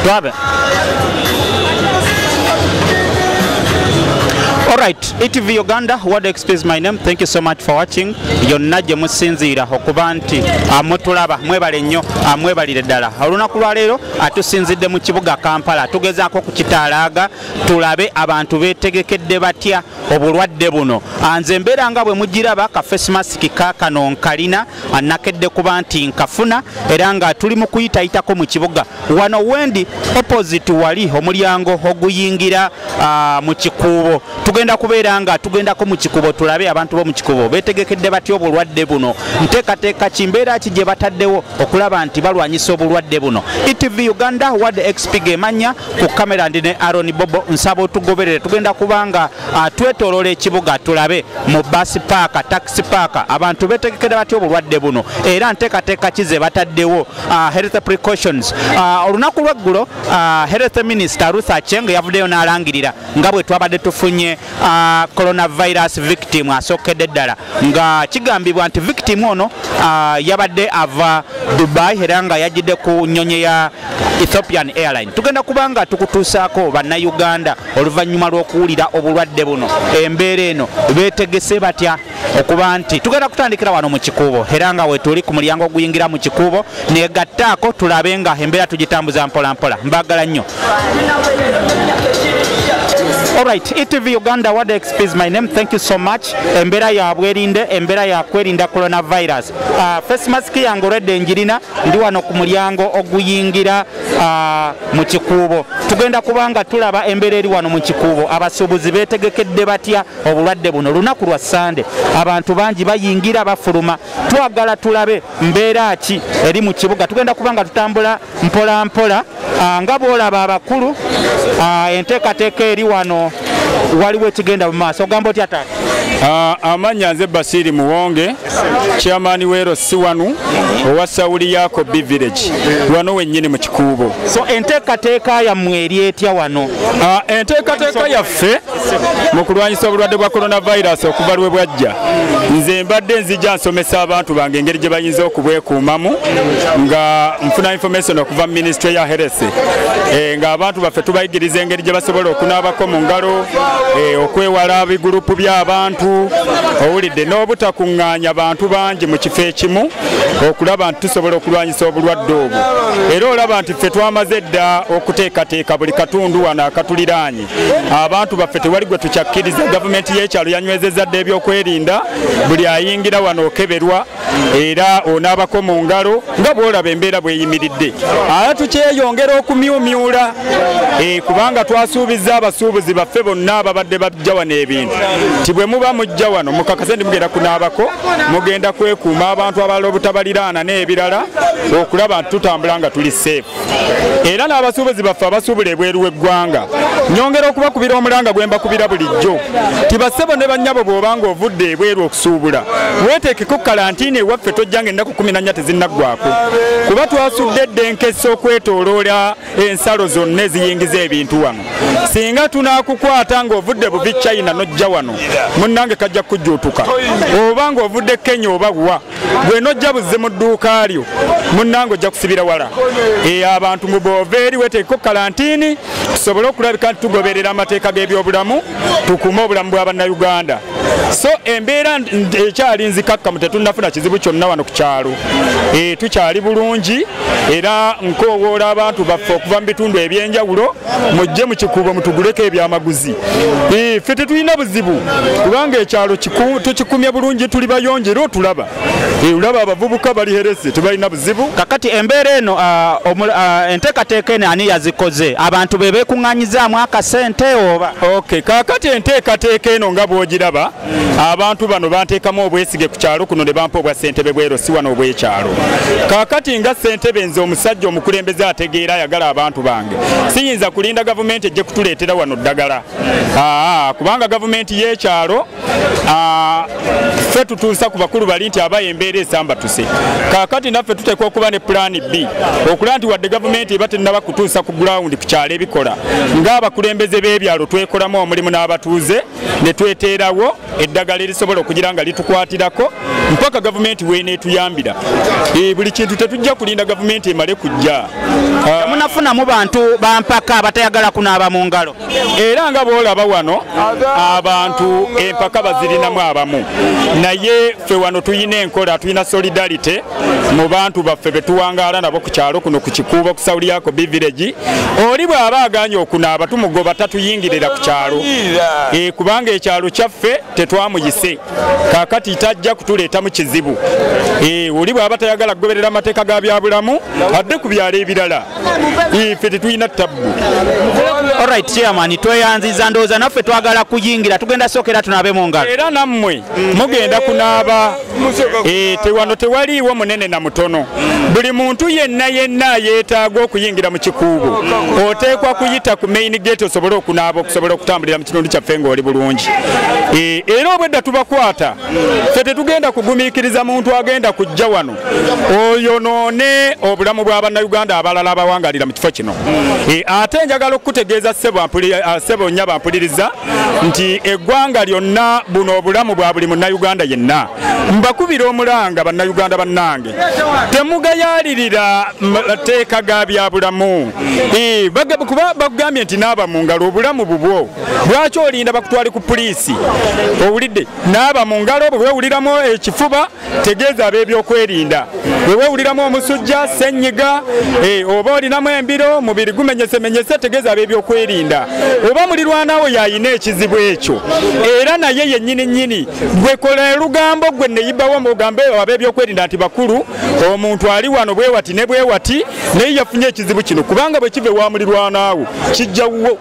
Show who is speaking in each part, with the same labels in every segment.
Speaker 1: Brother. Alright, ETV Uganda, what explains my name. Thank you so much for watching. Yonna gye musinziira okuba nti ah, mutulaba mwebale nnyo ah, mwebalire ddala olunaku lwa leero atusinzidde ah, mu kibuga Kampala tugezaako okukitaalaaga tulabe abantu beetegekedde batya obulwadde buno nze mbeera nga bwe mugiraba ka face mask kakano nkalina anakedde kuba nti nkafuna era nga tuli mu kuyitayitako mu kibuga wano wendi opposite wali omulyango oguyingira ah, mu kikuubo tugenda kubeera nga tugendako mu kikubo tulabe abantu bomu kikubo betegekedde batya obulwadde buno nteekateeka kimbeera ki gye bataddewo okulaba nti balwanyisa obulwadde buno etv uganda wad xp gemanya ku kamera ndi ne aron bobo nsaba otugoberere tugenda kubanga Ah, twetoloola ekibuga tulabe mu basi paaka taxi paaka abantu betegekera batya obulwadde buno era nteekateeka ki ze bataddewo ah, health precautions ah, olunaku lweggulo health minister ruth acheng yavuddeyo n'alangirira nga bwe twabadde tufunye coronavirus victim asookedde ddala nga kigambibwa nti victim ono yabadde ava dubai era nga yajjidde ku nnyonyi ya ethiopian airline tugenda kubanga tukutuusaako bannayuganda oluvannyuma lw'okuwulira obulwadde buno embeera eno beetegese batya okuba nti tugenda kutandikira wano mu kikuubo era nga wetuli ku mulyango oguyingira mu kikuubo negattaako tulabe nga embeera tugitambuza mpolampola mbagala nnyo Alright, ETV Uganda World XP is my name. Thank you so much. Embera ya bwerinde, embera ya kwerinda coronavirus. Uh, face mask yangu redde njirina, ndi wano ku mulyango oguyingira Ah, mu kikuubo tugenda kubanga tulaba embeera eri wano mu kikuubo abasuubuzi beetegekedde batya obulwadde buno lunaku lwa sande abantu bangi bayingira bafuluma twagala tulabe mbeera ki eri mu kibuga tugenda kubanga tutambula mpola mpola ah, nga bwolaba abakulu ah, enteekateeka eri wano waliwo ekigenda mu maaso ogamba otya taata amanya
Speaker 2: nze basiiri muwonge chairman wero si wanu owa sauli yako b village wano wenyini mu kikuubo so enteekateeka
Speaker 1: yammwe eri etya wano ah, enteekateeka
Speaker 2: yaffe mu kulwanyisa obulwadde bwa coronavirus okuva lwe bwajja nze mbadde nzija nsomesa abantu bange engeri gye bayinza okubwekuumamu nga nfuna information okuva mu ministry ya heresi eh, ng'abantu baffe tubayigiriza engeri gye basobola okunaabako mu ngalo eh, okwewala bigurupu by'abantu owulidde n'obutakuŋŋaanya bantu bangi mu kifo ekimu okulaba nti tusobola okulwanyisa obulwadde obwo era olaba nti ffe twamaze dda okuteekateeka buli katundu wano akatuliraanye abantu baffe tewali gwe tukyakkiriza gavumenti y'ekyalo yanywezezza dda ebyokwerinda buli ayingira wano okeberwa era onaabako mu ngalo nga bwolaba embeera bweyimiridde aa tukyeyongera okumyumyula eh, kubanga twasuubizza abasuubuzi baffe bonna ababadde bajja wano ebintu nti bwe muba mujja wano mukakase ndi mugenda kunaabako mugenda kwekuuma abantu abalala obutabaliraana n'ebirala okulaba nti tutambula nga tuli seefu era n'abasuubuzi baffe abasuubula ebweru w'eggwanga nyongera okubakubira omulanga gwe mbakubira bulijjo tibassebo ne bannyabo bw'obanga ovudde ebweru okusuubula weeteekeko kalantiini ewaffe tojja nga ennaku kumi nannya tezinnaggwako kuba twasudde dda enkesa okwetooloola ensalo zonna eziyingiza ebintu wano singa tunaakukwata ng'ovudde buvi china n'ojja wano munnange kajja kujjuutuka oba ng'ovudde kenya oba wa gwe nojja buzze mu dduuka lyo munnange ojja kusibira wala e, abantu mu boova eri weteekeko kalantiini tusobole okulabika nti tugoberera amateeka g'ebyobulamu tukuume obulamu bwa bannayuganda so embeera ekyali nzikakkamu tetunnafuna kizibu kyonna wano ku kyalo e, tukyali bulungi era nkowoola abantu baffe okuva mu bitundu eby'enjawulo mujje mu kikuubo mutuguleko ebyamaguzi ffe tetulina buzibu kubanga ekyalo tukikumye bulungi tuli bayonje era otulaba olaba abavubuka bali herese tebalina buzibu kakati embeera eno
Speaker 1: ah, ah, enteekateeka eno ani yazikoze abantu be beekuŋŋanyizaamu akasente oba ok kakati
Speaker 2: enteekateeka eno nga bwogiraba abantu bano banteekamu obwesige ku kyalo kuno ne bampa obwa ssentebe bwero si wano obw'ekyalo kaakati nga ssentebe nze omusajja omukulembeze ategeera ayagala abantu bange siyinza kulinda gavumenti ejje kutuleetera wano ddagala kubanga gavumenti y'ekyalo ffe tutuusa ku bakulu bali nti aba embeera esambatuse kaakati naffe tuteekwa okuba ne pulaani b okulaba nti wadde gavumenti eba tennaba kutuusa ku gulawundi ku kyalo ebikola ng'abakulembeze b'ebyalo twekolamu omulimu n'abatuuze ne tweteerawo eddagala erisobola okugira nga litukwatirako mpaka gavumenti weneetuyambira eh, buli kintu tetujja kulinda gavumenti emale kujja ah. munafuna
Speaker 1: mu bantu bampaka abatayagala kunaaba mu ngalo era nga boolaba
Speaker 2: wano abantu empaka bazirinamu abamu naye ffe wano tulina enkola tulina solidarity mu bantu baffe betuwangaala nabo ku kyalo kuno ku kikuubo ku saudi yako biviregi oli bw'aba aganye okunaaba tumugoba tatuyingirira ku kyalo e, kubanga ekyalo kyaffe tetwamuyise kakati tajja kutuleeta mu kizibu e, oli bw'aba tayagala kugoberera amateeka ga byabulamu adde ku byalo ebirala ife e, tetulina tabbu
Speaker 1: olright chairman tweyanziza ndowooza naffe twagala kuyingira tugenda sookera tunaabe mu ngalo era nammwe
Speaker 2: mugenda kunaaba Eh, tewano tewaliiwo munene na mutono buli muntu yenna yenna yeetaaga okuyingira mu kikuubo oteekwa kuyita ku main gate osobole okunaaba okusobola okutambulira mu kitundu kyaffe ng'oli bulungi eh, era obwedda tubakwata fe tetugenda kugumiikiriza muntu agenda kujja wano oyonoone obulamu bwa bannayuganda abalala abawangalira mu kifo kino eh, ate njagala okukutegeeza sebo ah, nnya bampuliriza nti eggwanga lyonna buno obulamu bwa buli munnayuganda yenna mbakubira omulanga bannayuganda bannange temugayaalirira mateeka ga byabulamu kuba bakugambye nti naaba mu ngalo obulamu bubwo lwaki olinda bakutwale ku puliisi owulidde naaba mu ngalo bwe weewuliramu ekifuba tegeeza ab'ebyokwerinda bwe weewuliramu omusujja sennyiga eh, oba olinamu embiro mubiri gumenyesemenyese tegeeza ab'ebyokwerinda oba mulirwanawo yalina ekizibu ekyo era naye yennyini nnyini gwe kola elugambo gwe neyibawo mugambe ab'ebyokwerinda nti bakulu omuntu ali wano bwewati ne bwewati naye yafunye ekizibu kino kubanga bwe kiva ewa mulirwanawo kijja wuwo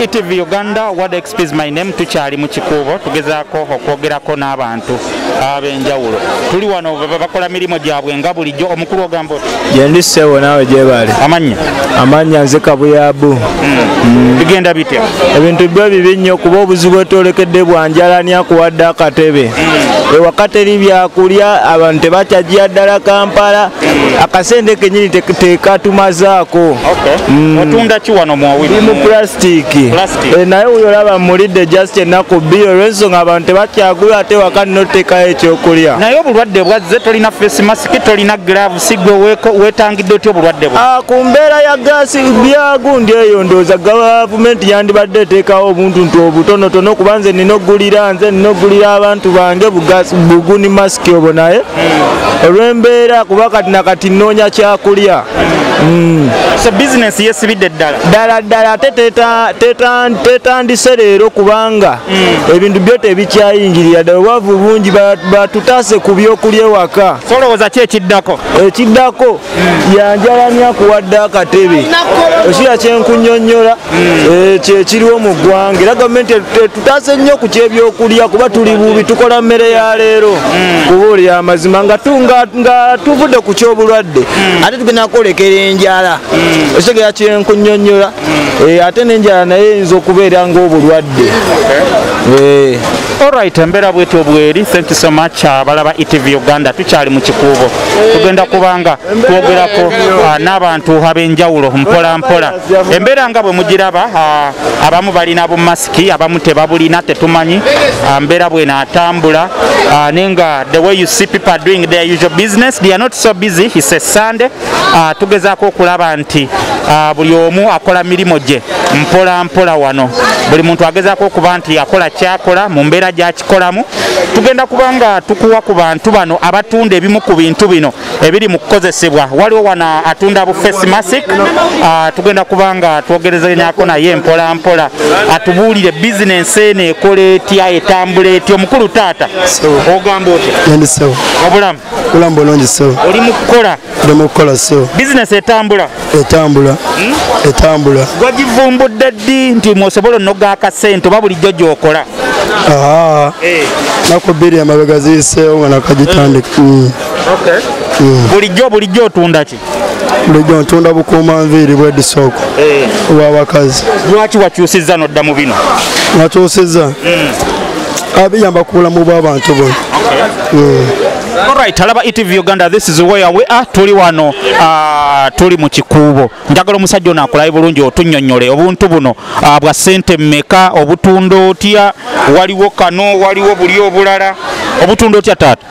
Speaker 1: etv e uganda wad xps my name tukyali mu kikuubo tugezaako okwogerako n'abantu ab'enjawulo tuli wano bakola mirimu gyabwe nga bulijjo omukulu ogamba oti gyendi sebo naawe
Speaker 3: gyebali amannya amannya nze kabuyabu hmm. Hmm. bigenda
Speaker 1: bitya ebintu byo bibi
Speaker 3: nnyo kuba obuzibu etwolekedde bwanjalani akuwadde akatebe hmm. ewakateri byakulya abantu tebakyajira ddala kampala akasente kenyini tekatumazaako mm.
Speaker 1: otunda ki wano muwawirimu pulasitiki
Speaker 3: eh, naye wuyo olaba mulidde just ennaku bbiri olwensonga abantu tebakyagula ate waka notekayo ekyokulya naye obulwadde bwazze
Speaker 1: tolina face mask tolina glave sigwe wetangidde otya obulwadde bwo ah, ku mbeera ya gaasi
Speaker 3: byagundi eyo ndooza gavumenti yandibadde eteekawo obuntu nti obutonotono kuba nze nina okugulira nze nina okugulira abantu bange buguni mask kyobo naye olwembeera kuba kati nakati nnoonya kyakulya mm.
Speaker 1: so bizinesi yesibidde ddala ddala ddala
Speaker 3: ate tetandise leero kubanga mm. ebintu byo tebikyayingirira ddala obwavu bungi batutaase ku byokulya ewaka solowooza ki ekiddako
Speaker 1: ekiddako
Speaker 3: yanjalani akuwadde akatebe okiira kyenkunyonyola hmm. eh, kyekiriwo mu ggwanga era gavumenti etutaase nnyo ku kyebyokulya kuba tuli bubi tukola mmere ya leero hmm. kubuulira amazima nga tuvudde ku kyobulwadde hmm. ate tugenda kwolekera enjala okitegera kyenkunyonyola eh, ate nenjala naye eyinza okubeera ngaobulwadde eh.
Speaker 1: olrit embeera bwetyo bweri thank you so much abalaba uh, etv uganda tukyali mu kikuubo tugenda kubanga twogerako uh, n'abantu ab'enjawulo mpola mpola embeera nga bwe mugiraba uh, abamu balina bumasiki abamu tebabulina tetumanyi mbeera bwena atambula naye nga the way you see people are doing their usual business they are not so busy he says sunday ah, tugezaako okulaba nti ah, buli omu akola mirimu gye mpola mpola wano buli muntu agezaako okuba nti akola kyakola mu mbeera gyakikolamu tugenda kuba nga tukuwa ku bantu bano abatunda ebimu ku bintu bino ebiri mu kukozesebwa waliwo wano atunda bu face mask ah, tugenda kuba nga twogerezanyako naye mpola mpola atubuulire bizinensi eno ekola etya etambula etya omukulu taata ogamba
Speaker 4: otya
Speaker 1: obulamu
Speaker 4: Bulamu bulungi
Speaker 1: ssebo.
Speaker 4: Oli mu kukola?
Speaker 1: Ndi
Speaker 4: mu
Speaker 1: kukola
Speaker 4: ssebo. Bizinesi
Speaker 1: etambula? Etambula. Hmm?
Speaker 4: Etambula. Wagivumbudde ddi
Speaker 1: nti mwosobola onoga akasente oba bulijjo gy'okola? Aa, eh.
Speaker 4: naku bbiri emabega ziyiseewo nga nakagitandika. Hmm. Hmm. Bulijjo
Speaker 1: bulijjo otunda ki? bulijjo ntunda
Speaker 4: bukuuma nviiri bwedisooko eh. obwabakazi lwaki
Speaker 1: wakyusizza nodda mu bino wakyusizza
Speaker 4: hmm. abiyamba ah, ku bulamu bw'abantu bona Alright,
Speaker 1: alaba ETV Uganda, this is where we are. Tuli wano, uh, tuli mu kikuubo. Njagala omusajja ono akulaye bulungi otunnyonnyole obuntu buno uh, bwa ssente mmeka, obutunda otya, waliwo kano, waliwo buli obulala. Obutunda otya taata?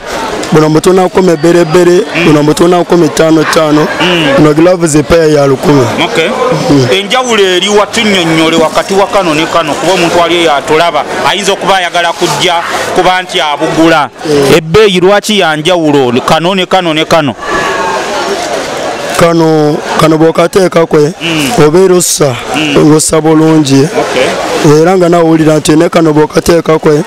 Speaker 1: buno mbu tulina
Speaker 4: kukuma ebberebbere buno mbu tulina kukuma ettaano ttaano buno gilavu zepeya ya lukumi hmm. enjawulo eri
Speaker 1: watunyonyole wakati wa kano ne kano kuba omuntu wali eyo atulaba ayinza okuba ayagala kujja kuba nti abugula hmm. ebbeeyi lwaki ya njawulo kano ne kano ne kano kano
Speaker 4: kano bwokateeka kwe hmm. obeera ossa ngossa bulungi era nga nawe owulira nti ne kano bwokateeka kwe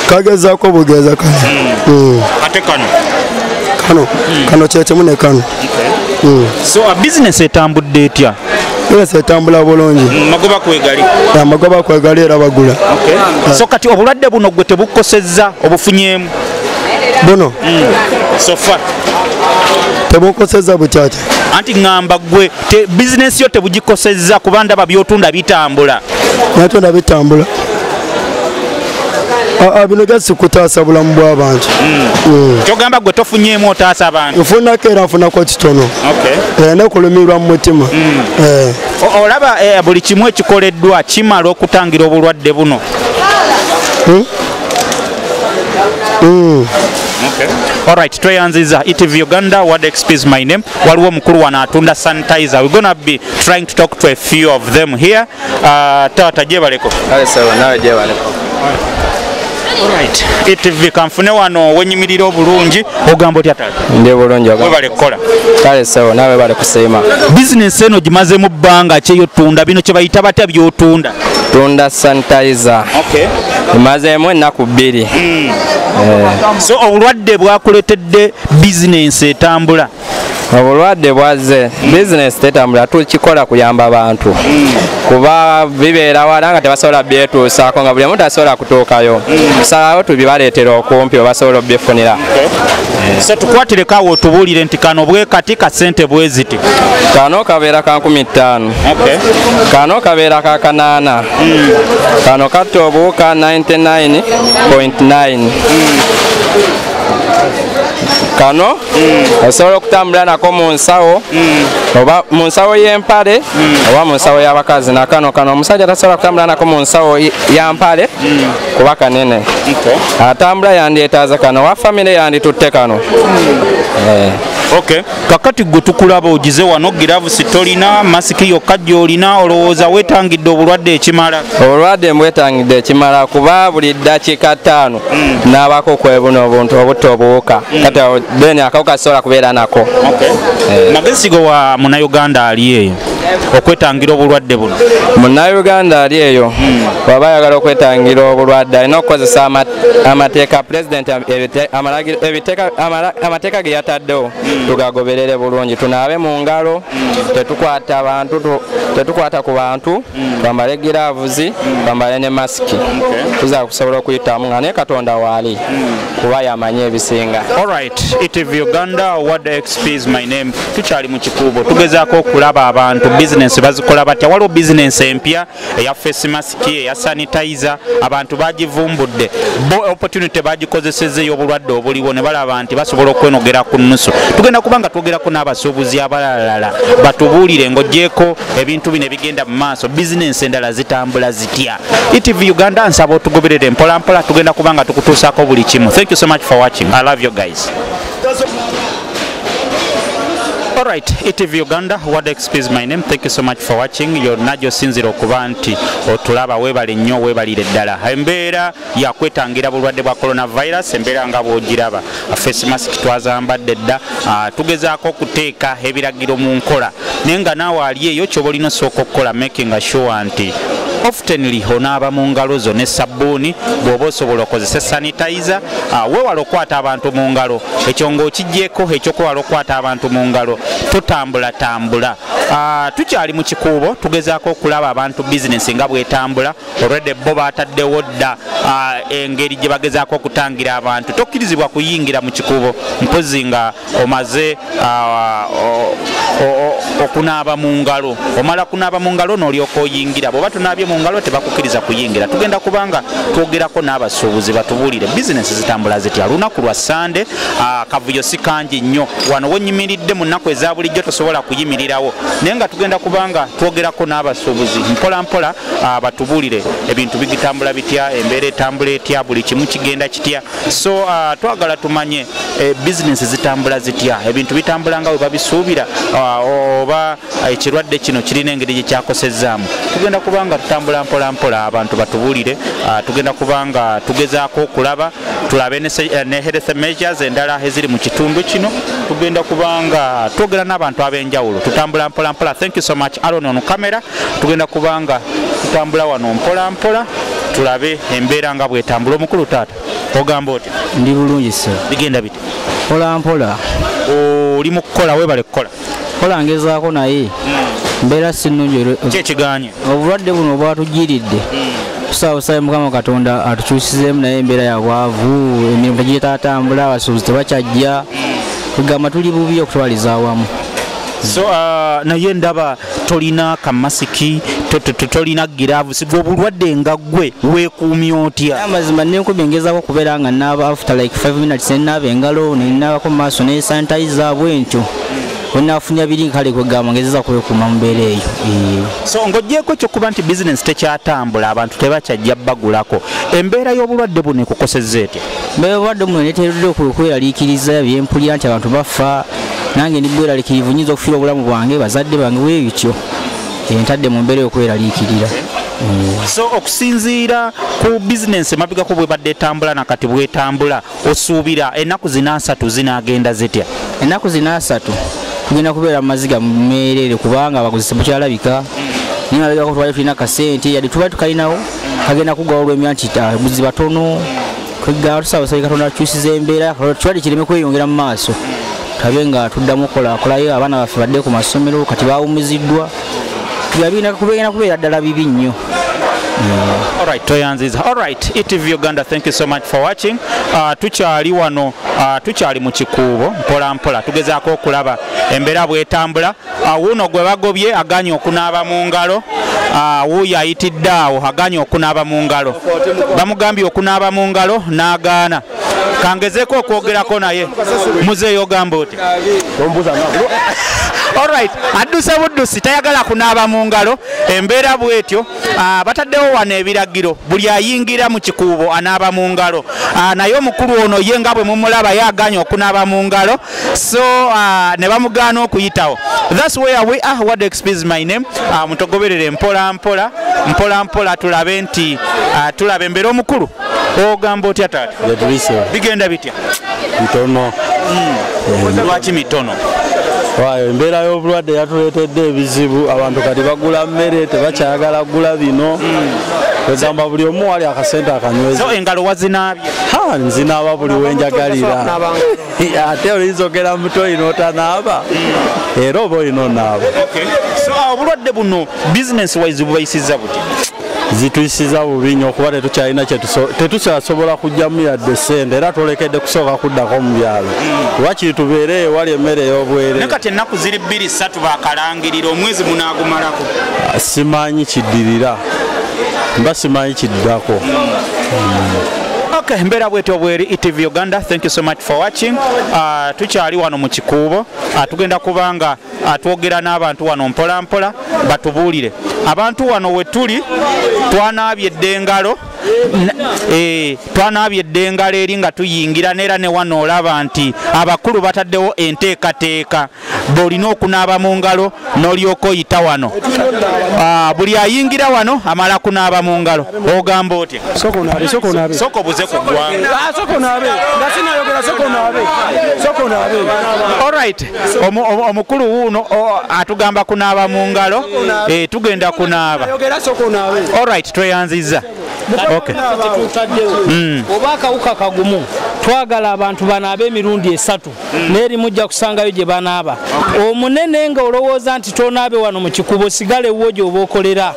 Speaker 4: kagezako bugeza kano hmm.
Speaker 1: ate kano kano hmm.
Speaker 4: kano kyekimu ne kano hmm. so
Speaker 1: a business etambudde etya business etambula
Speaker 4: bulungi magoba kwegali amagoba kwegali era bagula so kati
Speaker 1: obulwadde buno gwe tebukosezza obufunyemu buno sofa
Speaker 4: tebukosezza bukyakya anti ŋŋamba
Speaker 1: gwe bizinesi yo tebugikosezza kuba ndaba byotunda bitambula natunda
Speaker 4: bitambula Ah, ah, bino just kutaasa bulamu bw'abantu hmm. hmm. kyogamba
Speaker 1: gwe tofunyeemu otaasa abantu nfunako era nfunako
Speaker 4: kitono eh, nekulumirwa mu mutima hmm. eh.
Speaker 1: olaba eh, buli kimu ekikoleddwa kimala okutangira obulwadde buno Alright, tweyanziza ETV Uganda, what XP is my name. Waliwo mukulu wano atunda sanitizer. We're gonna be trying to talk to a few of them here. Ah, taata gyebaleko etv kanfune wano wenyimirira obulungi ogamba otya taata ndi bulungi webale
Speaker 5: kukola kale
Speaker 1: sawa nawe
Speaker 5: webale kusiima bizinensi eno
Speaker 1: gimazemu bbanga kyeyotunda bino kyebayita batya byotunda tunda
Speaker 5: sanitizer okay. emazemu ennaku bbiri mm.
Speaker 1: eh. so obulwadde bwakuletedde bizinensi etambula obulwadde
Speaker 5: bwazze bizinesi tetambula tukikola kuyamba bantu kuba bibeera wala nga tebasobola byetuusaako nga buli omu tasobola kutuukayo tusalawo tubibaleetera okumpi obasobola obifunira se
Speaker 1: tukwatireko awo otubuulire nti kano bwekati kasente bweziti kano kabeera
Speaker 5: ka nkumi ttaano kano kabeera ka kanaana hmm. kano katta obuwuka 99.9 kano mm. osobola okutambula nako mu nsawo mm. oba mu nsawo y'empale mm. oba mu nsawo y'abakazi nakano kano omusajja tasobola kutambula nako mu nsawo ya mpale kuba kanene atambula yandyetaaza kano owa famire yanditutte kano eh. okay
Speaker 1: kakati gwe tukulaba ogize wano giravusi tolina masiki yokka gyolina olowooza wetangidde obulwadde ekimala obulwadde mbwetangidde
Speaker 5: ekimala kuba buli ddakiika ttaano mm. nabako okwebuna obuntu obutta obuwuka mm. kati then akawuka sisobola kubeera nako okay. eh. magezi
Speaker 1: go wa munauganda ali eyo okwetangira obulwadde buno munauganda ali
Speaker 5: eyo mm. waba ayagala okwetangira obulwadde alina okukozesa amateeka pulezidenti amateeka ge yataddewo mm. tugagoberere bulungi tunaabe mu ngalo mm. tetukwata bantu tetukwata ku bantu mm. bambale giraavuzi mm. bambale ne masiki tuza kusobola okuyitamu nga naye katonda waali mm. kuba yamanyi ebisinga alright etv
Speaker 1: uganda word xp is my name tukyali mu kikuubo tugezaako okulaba abantu bizinensi bazikola batya waliwo bizinensi empya eya face masiki eya sanitizer abantu bagivumbudde bo opportunity bagikozeseza ey'obulwadde obuliwo ne balaba nti basobola okwenogera ku nnusu tugenda kuba nga twogerako n'abasuubuzi abalalala batubuulire ng'ogyeko ebintu bino egenda mu maaso bizinensi endala zitambula zitya etv uganda nsaba otugoberere mpolampola tugenda kuba nga tukutuusaako buli kimu thank you so much for watching i love you guys Alright, ETV Uganda, what is my name? Thank you so much for watching. You're not just sinziro kubanti, otulaba webali nyo, webali ledala. Embera. yakwetangira bulwadde bwa coronavirus embeera nga bwogiraba face mask twazambadde dda ah, tugezaako okuteeka ebiragiro mu nkola naye nga naawe ali eyo kyoba olina osooka okukola making sure nti oftenly onaaba mu ngalo zo ne sabbuuni bw'oba osobola okozesa sanitizer ah, wewala okukwata abantu mu ngalo ekyo ng'okigyeko ekyokwewala okukwata abantu mu ngalo totambulatambula ah, tukyali mu kikuubo tugezaako okulaba abantu bizinesi nga bwetambula olwedde bo baataddewo dda engeri gye bagezaako okutangira abantu tokkirizibwa kuyingira mu kikubo mpozi nga omaze okunaaba mu ngalo omala kunaaba mu ngalo noolyoka oyingira bweoba tunaabye mu ngalo tebakukkiriza kuyingira tugenda kubanga twogerako n'abasuubuzi batubuulire bizinesi zitambula zitya lunaku lwa sande akavuyo si kangi nnyo wano wenyimiridde mu nnaku eza bulijjo tosobola kuyimirirawo naye nga tugenda kubanga twogerako n'abasuubuzi mpolampola ah, batubulire ebintu bigitambula bitya embeera etambula etya buli kimu kigenda kitya so ah, twagala tumanye eh, bizinesi zitambula zitya ebintu bitambula nga webabisuubira ah, oba ekirwadde kino kirina engeri gyekyakosezaamu tugenda kubanga tutambula mpolampola abantu batubulire tugenda kubanga tugezaako okulaba tulabe ne eh, health measures endala eziri mu kitundu kino tugenda kubanga twogera n'abantu ab'enjawulo tutambula mpolampola thank you so much aron on camera tugenda kubanga tutambula wano mpola mpola tulabe embeera nga bwetambula omukulu taata ogamba oti ndi bulungi se
Speaker 6: bigenda biti
Speaker 1: mpola mpola
Speaker 6: oli mu
Speaker 1: kukola webale kukola kola ngezaako
Speaker 6: naye hmm. mbeera sinungi kyekiganye
Speaker 1: obulwadde buno
Speaker 6: obwatujiridde hmm. tusaabusabe mukama katonda atukyusizeemu naye embeera yabwavu emirimu tegitatambula abasuubuzi tebakyajja hmm. tugamba tuli bubi okutwaliza awamu so uh,
Speaker 1: naye ndaba tolina kamasiki tolina giravu siga obulwadde nga gwe wekuumya otya amazima nenkuba engezako
Speaker 6: okubeera nga naaba after like 5 minutes nenaaba engalo nenaabako mumaaso nesanitiza bwentyo wenafunya biri kale kwegamba ngezeza kwekuuma mubeera eyo so
Speaker 1: ngaogyeko ekyokuba nti bizinesi tekyatambula abantu tebakyajja bagulako embeera y'obulwadde buno ekukosezza etya bwebadde omuntu
Speaker 6: neteredde okweraliikiriza byempulira nti abantu bafa nange ndi bweraliikirivu nyinza okufiira obulamu bwange bazadde bange bwebityo entadde mu mbeera y'okweraliikirira so
Speaker 1: okusinziira ku bizinensi emabigako bwebadde etambula nakati bwetambula osuubira ennaku zina asatu zinagenda zitya ennaku zina asatu
Speaker 6: tugenda kubeera mu maziga mumeerere kubanga abaguzi tebukyalabika naye mabigako twali tulina kasente yadde tuba tukalinawo kagenda kugwa olwemya nti abaguzi batono kweggaa tusaba basabye katonda akyusiza embeera kirwadde kireme kweyongera mu maaso tabe nga tuddamu kolaakolayo abaana baffe badde ku masomero kati bawumiziddwa yabina kubegenda kubeera ddala bibi nnyo Yeah.
Speaker 1: All right, Toyanziza. All right, ETV Uganda, thank you so much for watching. Uh, tukyali wano, uh, tukyali mu kikuubo mpola mpola. Tugezaako okulaba embeera bwetambula. Ah, wuuno gwe bagobye aganye okunaaba mu ngalo ah, wuuyo ayitidde awo aganye okunaaba mu ngalo bamugambye okunaaba mu ngalo n'agaana kangezeko okwogerako naye muzeeyo ogamba oti olright adduse buddusi tayagala kunaaba mu ngalo embeera bwetyo ah, bataddewo wano ebiragiro buli ayingira mu kikuubo anaaba mu ngalo ah, naye omukulu ono ye nga bwe mumulaba ye aganya okunaaba mu ngalo so uh, ne bamugaana okuyitawo thats where we are what expease my name uh, mutogoberere mpola mpola mpola mpola tulabe nti uh, tulabe embeera omukulu ogamba otya taata bigenda bitya mitono
Speaker 3: hmm.
Speaker 1: lwaki mitono waayo
Speaker 3: embeera y'obulwadde yatuleetedde ebizibu abantu kati bagula mmere tebakyagala kugula bino egamba buli omu wali akasente akanyweza engalo wazinaabye
Speaker 1: nzinaaba
Speaker 3: buli wenjagalira ate oyinza ogera muto olina otanaaba mm. era oba olina onaaba ah,
Speaker 1: obulwadde buno business wise bubayisiza buti zituyisiza
Speaker 3: bubi nyo okuba tetukyalina tetusasobola kujjamu yadde sente era twolekedde kusooka kuddako mu byalo mm. wakiri tubeere ewali emmere ey'obwere kati ennaku ziri bbiri
Speaker 1: satu bakalangirira omwezi munaagumalako ah, simanyi
Speaker 3: kiddirira mba simanyi kiddako mm.
Speaker 1: Okay, mbeera bwetyo bweri ETV Uganda. Thank you so much for watching. Uh, tukyali wano mu kikuubo. Uh, tugenda kubanga uh, twogera n'abantu wano mpola mpola batubuulire. Abantu wano we tuli twanaabye eddengalo eh, twanaabye eddengalo eri nga tuyingira neera ne wano olaba nti abakulu bataddewo enteekateeka. bwolina okunaaba mu ngalo n'olyoka oyita wano ah, buli ayingira wano amala kunaaba mu ngalo ogamba otya soko buze ku gwangaaorit ah, omukulu wuuno atugamba kunaaba mu ngalo eh, tugenda kunaaba orit tweyanzizza hmm.
Speaker 7: oba akawuka kagumu twagala abantu banaabe emirundi esatu mm. naye erimu ojja kusangayo gye banaaba omunene nga olowooza nti tonaabe wano mu kikubo sigala ewuwo gyoba okolera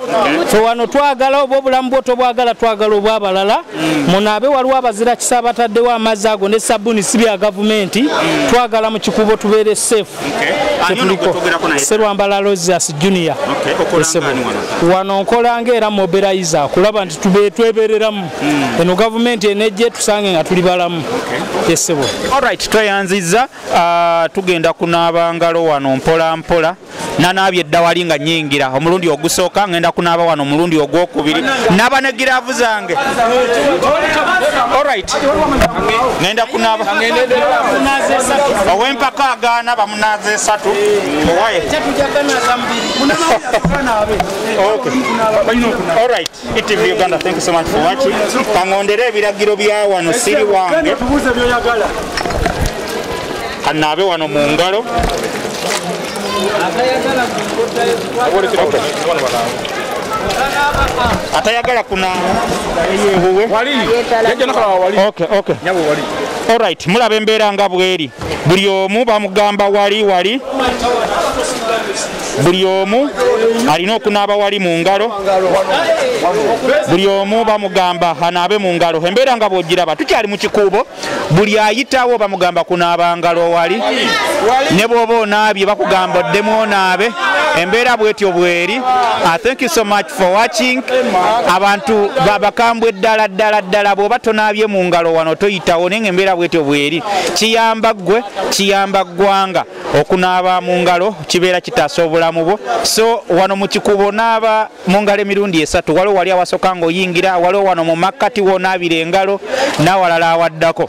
Speaker 7: fe wano twagala oba obulamu bwo tobwagala twagala obwabalala mm. munaabe waliwo abazira kisa bataddewo amazzi ago ne sabuni si bya gavumenti mm. twagala mu kikubo tubeere safe kyetuliko serwambala losias junior wano nkola ngaera mobilize kulaba nti twebereramu hmm. eno gavumenti enejje tusange nga tuli balamu esebo olright
Speaker 1: tweyanziza ah, tugenda kunaaba ngalo wano mpola mpola nanaabye eddawali nga nyingira omulundi ogusooka ngenda kunaaba wano omulundi ogwokubiri naba ne giraavu zange olright ngenda kunaaba owempaka agaana bamunaaza esatu owaye olright TV Uganda, thank you so much for watching. Kangondere ebiragiro bya wano siri wange. Kanaabe wano mu ngalo. Atayagala kuna Okay, okay. All right, mulaba embeera nga bweri. Buli omu bamugamba wali wali. buli omu alina okunaaba wali mu ngalo buli omu bamugamba anaabe mu ngalo embeera nga bwogiraba tukyali mu kikuubo buli ayitawo bamugamba kunaaba ngalo wali ne bwoba onaabye bakugamba oddemu onaabe embeera bwetyo bweri ah, thank you so much for watching abantu babakambwe ddala ddala ddala bwoba tonaabye mu ngalo wano toyitawo naye nga embeera bwetyo bweri kiyamba ggwe kiyamba ggwanga okunaaba mu ngalo kibeera kitaasa obulamu bwo so wano mu kikubo naaba mu ngalo emirundi esatu waliwo wali awasoka ngaoyingira waliwo wano mu makkati wonaabira engalo n'awalala awaddako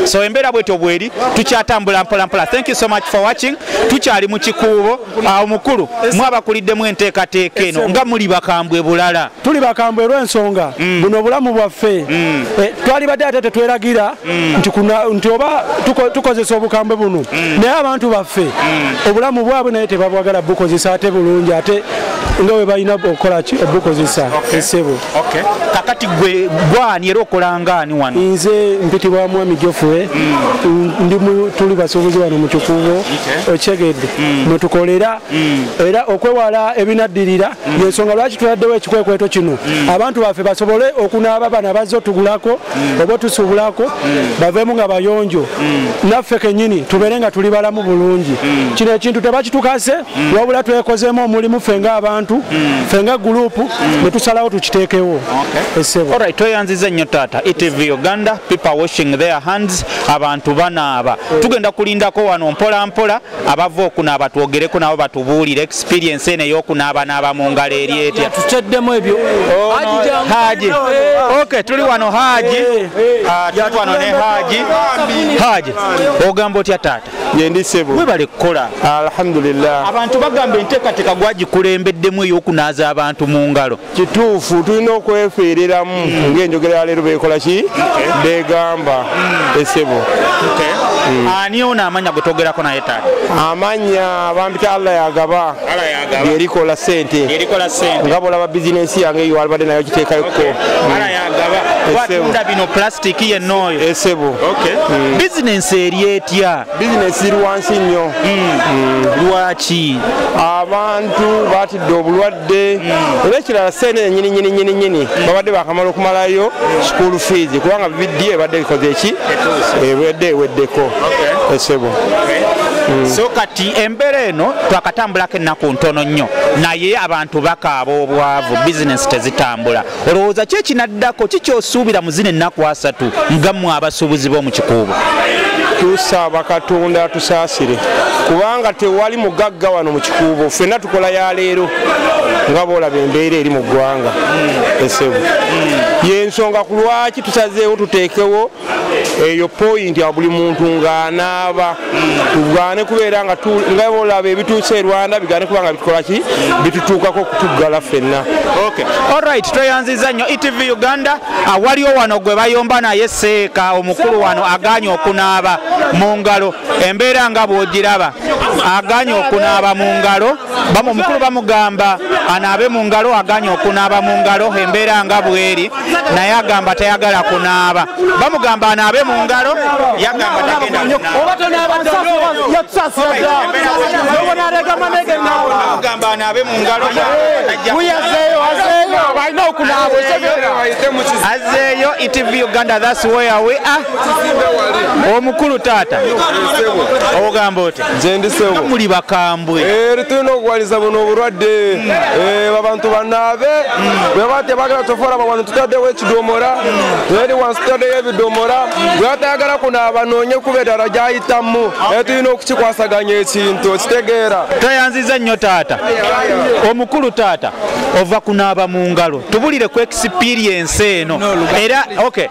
Speaker 1: so embeera bwetyo bweri tukyatambula mpolampola thank you so much for watching tukyali mu kikuubo awo mukulu mwabakuliddemu enteekateeka eno nga muli bakambwe bulala tuli bakambwe
Speaker 8: olw'ensonga mm. buno obulamu bwaffe mm. eh, twali badde ate tetweragira mm. nti oba tukozesa obukambwe buno naye abantu baffe obulamu bwabwe naye tebabwagala bukozesa ate bulungi ate nga we balina okukolaki obukozesa esebo kakati
Speaker 1: gwe gwani era okolangaani wano nze mpitibwa
Speaker 8: mwami jofure tuli basuubuzi wano mu kikuubo okitegedde mm. mwe tukolera mm. era okwewala ebinaddirira mm. yensonga lwaki tuladdewo ekikwekweto kino abantu baffe basobole okunaaba bana bazze otugulako oba otusuubulako baveemu nga bayonjo naffe kenyini tubeere nga tuli balamu bulungi kino ekintu tebakitukase wabula twekozeemu omulimu ffe nga abantu ffe nga gurupu ne tusalawo tukiteekewo esebo
Speaker 1: tweyanziza nnyo taata etv uganda people washing their hands abantu banaaba tugenda kulindako wano mpola mpola abava okunaaba twogereko nabo batubuulire experience eno eyokunaaba naaba mu ngalo eri etya tuteddemu ebyo
Speaker 7: oh, haji
Speaker 1: ok tuli wano haji eh, eh, eh. Ah, tuli wano ne haji haji ogamba otya taata yendi sebo webale
Speaker 9: kukola
Speaker 1: alhamdulillah
Speaker 9: abantu bagamba
Speaker 1: enteekateeka gwagikulembeddemu eyokunaaza abantu mu ngalo kituufu tulina
Speaker 9: okwefereramu mm. ngaenjogera yaleero bekola ki begamba mm. esebo
Speaker 1: mm. ani ono amanya gwetuogerako naye taata amanya
Speaker 9: bampita allah yagaba yerikola sente nga bolaba bizinensi yange yalibadde nayo kiteekayokuko
Speaker 1: esebo
Speaker 9: bizinensi
Speaker 1: eri etya bizinesi iri wansi
Speaker 9: nnyo hmm. lwaki
Speaker 1: abantu
Speaker 9: batidde obulwadde hmm. era ekirala sente enyini nyini nyini nyini hmm. babadde bakamala okumalayo school fees kubanga bibiddi ebadde bikoze eki ebadde eweddeko esebo
Speaker 1: so kati embeera eno twakatambulako ennaku ntono nnyo naye abantu bakaaba obwavu bizinesi tezitambula olowooza ki ekinaddako ki kyosuubira mu zino ennaku asatu ngammwe abasuubuzi b'omu kikuubo tusaba
Speaker 9: katonda atusaasire kubanga tewali mugagga wano mu kikuubo ffenna tukola ya leero nga boolaba embeera eri mu ggwanga esebu yensonga ku lwaki tusazeewo tuteekewo eyo pointi a buli muntu ng'anaaba tugane kubeera nga olaba ebituusa e rwanda bigane kuba nga bitukolaki bitutuukako okutuggala ffenna olright
Speaker 1: tweyanziza nnyo etv uganda ah, waliwo wano gwe bayomba naye seeka omukulu wano aganye okunaaba mu ngalo embeera nga bwogiraba aganye okunaaba mu ngalo omukulu bamugamba anaabe mu ngalo aganye okunaaba mu ngalo embeera nga bweri naye agamba tayagala kunaaba bamugamba anaabe mu ngalo yagamba tagendaagamba anaabe mu ngalo azeeyo etv uganda thats where we are omukulu taata ogamba oti gyendisebo muli
Speaker 9: bakambwe
Speaker 1: eh, tulina okuwaliza
Speaker 9: buno obulwadde eh, abantu banaabe bweba tebagala tofola bawano tutaddewo ekidomora eri wansi tutaddeyo ebidomora bweba tayagala kunaaba noonye kuba edala gyayitamu naye tulina okukikwasaganya ekintu okitegeera tweyanziza nnyo
Speaker 1: taata omukulu taata ova kunaaba mu ngalo tubulire ku experiensi eno era okay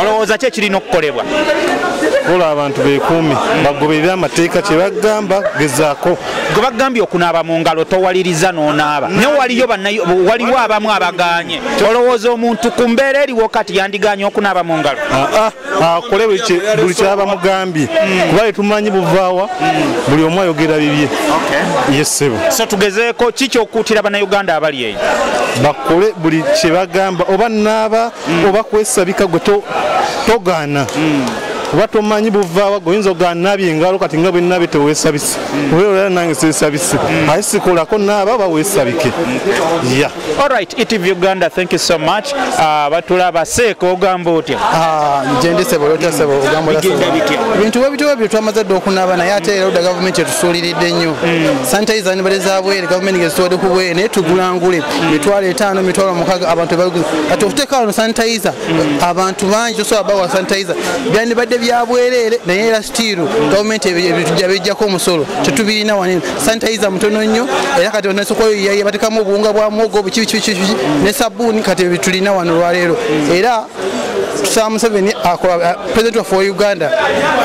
Speaker 4: olowooza ki
Speaker 1: ekirina okukolebwa kola
Speaker 4: abantu bekuumi bagoberere amateeka kyebagamba gezaako gwe bagambye
Speaker 1: okunaaba mu ngalo towaliriza n'onaaba naye waliyo waliwo abamu abaganye olowooza omuntu ku mbeera eriwo kati yandiganye okunaaba mu ngalo ah, ah, akole
Speaker 4: buli kyaba mugambye hmm. kuba tetumanyi buvaawa hmm. buli omu ayogera bibye yesebo so tugezeeko
Speaker 1: ki kyokuutira bannayuganda abali eyo bakole
Speaker 4: buli kyebagamba oba naaba mm. oba kwesabika gwe togaana mm. oba tomanyi buvaawa gwe oyinza ogaa nabye engalo kati nga bwenabye tewesabise mm. obeera nange sesabise mm. aye sikolako naaba oba wesabike mm. ya
Speaker 1: olright etv uganda thank you so much ah, batula baseeka ogamba otya ah,
Speaker 6: ngendesebolotasebogambibintu webityo webyo twamaze dde okunaaba naye ate era oda gavumenti tusuuliridde nnyo hmm. sanitayiza nibale za bwere gavumenti ngezitwade ku bwere naye tugulangule hmm. mitwalo etaano mitwalo mukaga abantu baguza kati okuteeka wano sanitayiza hmm. abantu bangi tosobola bawa sanitayiza byandibadde bya bwereere naye era sitiiru gavumenti ebitujja bijjako omusolo tetubirina wanene sanitayiza mutono nnyo era kati onasokoyoyaye batekamu obuwunga bwa muwogo bukibikibikibiki ne sabbuuni kati ebitulina wano olwaleero era samuseveni akola president waffe wa uganda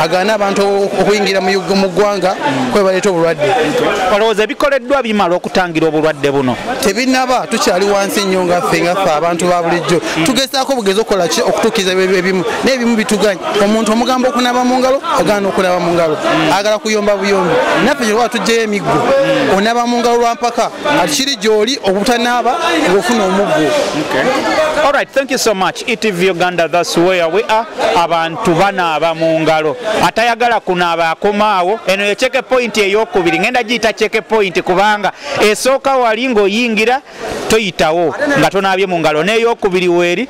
Speaker 6: agaana abantu okuyingira mu ggwanga kwebaleeta obulwadde olowooza
Speaker 1: ebikoleddwa bimala okutangira obulwadde buno tebinaba tukyali
Speaker 6: wansi nnyo nga ffe nga ffe abantu ba bulijjo tugezaako bugezi okukola ki okutuukiriza ebimu naye ebimu bituganya omuntu omugamba okunaba mu ngalo agaana okunaba mu ngalo agala kuyomba buyombi naffe kyelwa tugyeyo emiggo onaba mu ngalo lwampaka kati kiri gyoli okutanaaba ngaofuna omuggo
Speaker 1: Alright, thank you so much. ETV Uganda, that's where we are. Abantu banaaba mu ngalo. Atayagala kunaaba akomaawo. Eno ye cheke point ey'okubiri. Ngenda giyita cheke point kubanga esooka wali ng'oyingira toyitawo nga tonaabye mu ngalo. N'ey'okubiri weeri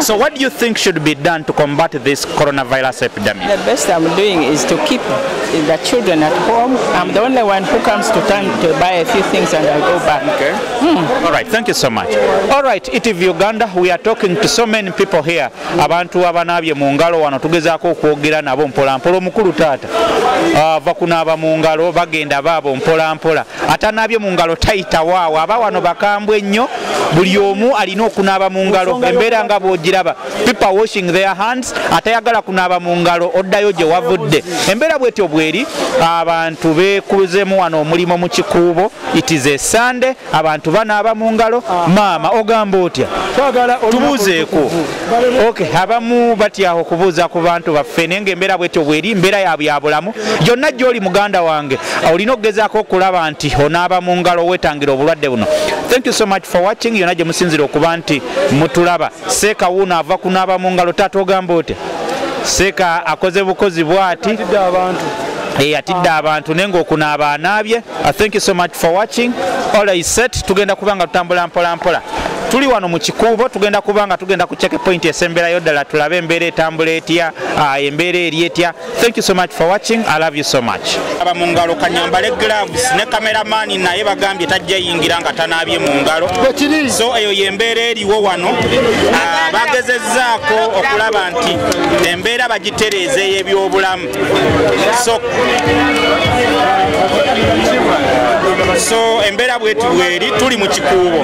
Speaker 10: So what
Speaker 1: do you think should be done to combat this coronavirus epidemic? The best I'm doing
Speaker 10: is to keep the children at home. I'm the only one who comes to town to buy a few things and I go back. Okay. Hmm. All
Speaker 1: right, thank you so much. All right, ITV Uganda, we are talking to so many people here. Abantu abanabye mu ngalo wano tugezaako okwogera nabo mpola mpola omukulu taata. Uh, vakunaaba mu ngalo bagenda baabo mpola mpola. atanaabye mu ngalo tayitawo awo aba wano bakambwe nnyo buli omu alina okunaaba mu ngalo embeera nga bwogiraba pipa washing their hands atayagala kunaaba mu ngalo oddayo gye wavudde embeera bwetyo bweri abantu bekuzemu wano omulimu mu kikuubo itize esande abantu banaaba mu ngalo maama ogamba otya tubuuzeeko ok abamu batyaho okubuuza ku bantu baffe naye nga embeera bwetyo bweri mbeera ya byabulamu gyonna gyoli muganda wange olina okugezaako okulaba nti onaaba mu ngalo wetangira obulwadde buno thank you so much for watching yonna gye musinzira okuba nti mutulaba seeka wuuno ava kunaaba mu ngalo taata ogamba otya seeka akoze bukozi bwati eyatidde abantu naye ngaokunaaba anaabye Uh, thank you so much for watching all is set tugenda kuba nga tutambula mpola mpola tuli wano mu kikuubo tugenda kuba nga tugenda ku check point esemberayo ddala tulabe embeera etambula etya uh, embeera eri etya thank you so much for watching i love you so much aba mu ngalo kanyambale gloves ne kameramani naye bagambye tajja yingira nga tanaabye mu ngalo so eyo yembeera eriwo wano uh, bagezezzaako okulaba nti embeera bagitereeza ey'ebyobulamu so so embeera bwetu bweri tuli mu kikuubo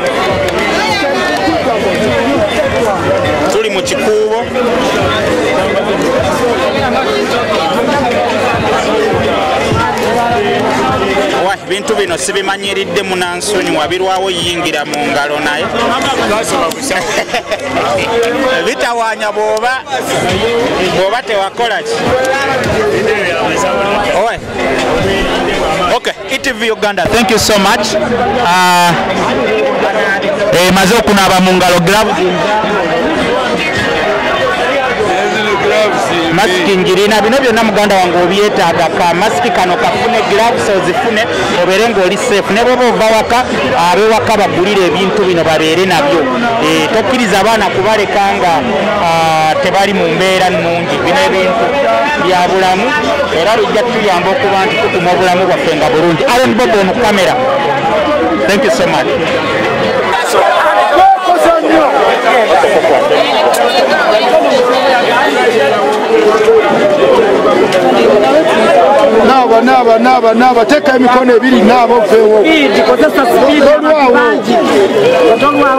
Speaker 1: tuli mu kikuubo ebintu bino sibimanyiridde munansonyiwa birwawo yingira mu ngalo naye bitawanya bwoba bwoba tewakolaki okay etv uganda thank you so much uh, eh, maze okunaaba mu ngalo gloves masiki ngirina bino byonna muganda wange obyetaaga ka masiki kano kafune gloves ozifune obeere ng'oli safe ne bwoba ova waka abewaka bagulire ebintu bino babeere nabyo eh, tokkiriza abaana kubaleka nga ah, tebali mu mbeera nnungi bino ebintu bya bulamu era bijja tuyamba okuba nti tukuma obulamu bwaffe nga bulungi aron bobo mu kamera thank you so much
Speaker 11: naaba naaba naaba naaba teeka emikono ebiri naaba oveewo tolwawo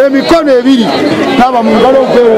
Speaker 11: emikono ebiri naba mungalo mpewo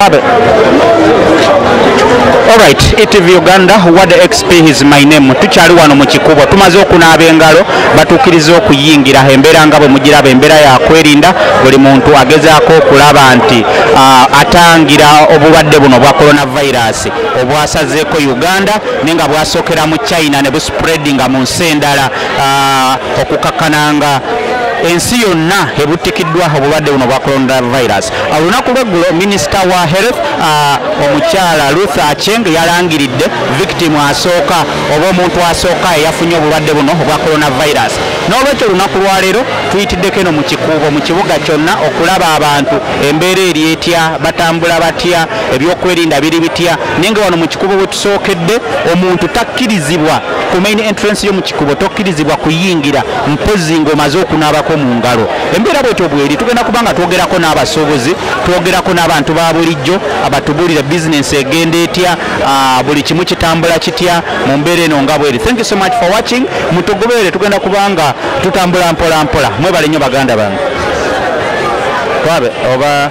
Speaker 11: Abe. Alright, ETV Uganda, what the XP is my name. Tukyali wano mu kikubo. Tumaze okunaaba engalo, batuukiriza okuyingira embeera nga bwe mugiraba embeera ya kwerinda buli muntu agezaako okulaba nti ah, atangira obulwadde buno bwa coronavirus obwasazeeko Uganda ne nga bwasokera mu China ne buspreadinga mu nsi endala okukakkana nga ensi yonna ebuttikiddwa obulwadde buno bwa coronavirus olunaku lweggulo minisita wa health omukyala ruth acheng yalangiridde victim asooka oba omuntu asooka eyafunye obulwadde buno obwa coronavirus n'olwekyo olunaku lwaleero tuyitiddeko eno mu kikuubo mu kibuga kyonna okulaba abantu embeera eri etya batambula batya ebyokwerinda biri bitya naye nga wano mu kikuubo sookedde omuntu takkirizibwa ku main entrance yo mu kikubo tokkirizibwa kuyingira mpozzi ng'omaze okunaabako mu ngalo embeera bwetyo bweri tugenda kuba nga twogerako n'abasuubuzi twogerako n'abantu ba bulijjo abatubuulira bizinensi egenda etya ah, buli kimu kitambula kitya mu mbeera eno nga bweri thank you so much for watching mutugoberere tugenda kuba nga tutambula mpola mpola mwebale nnyo baganda bange twabe oba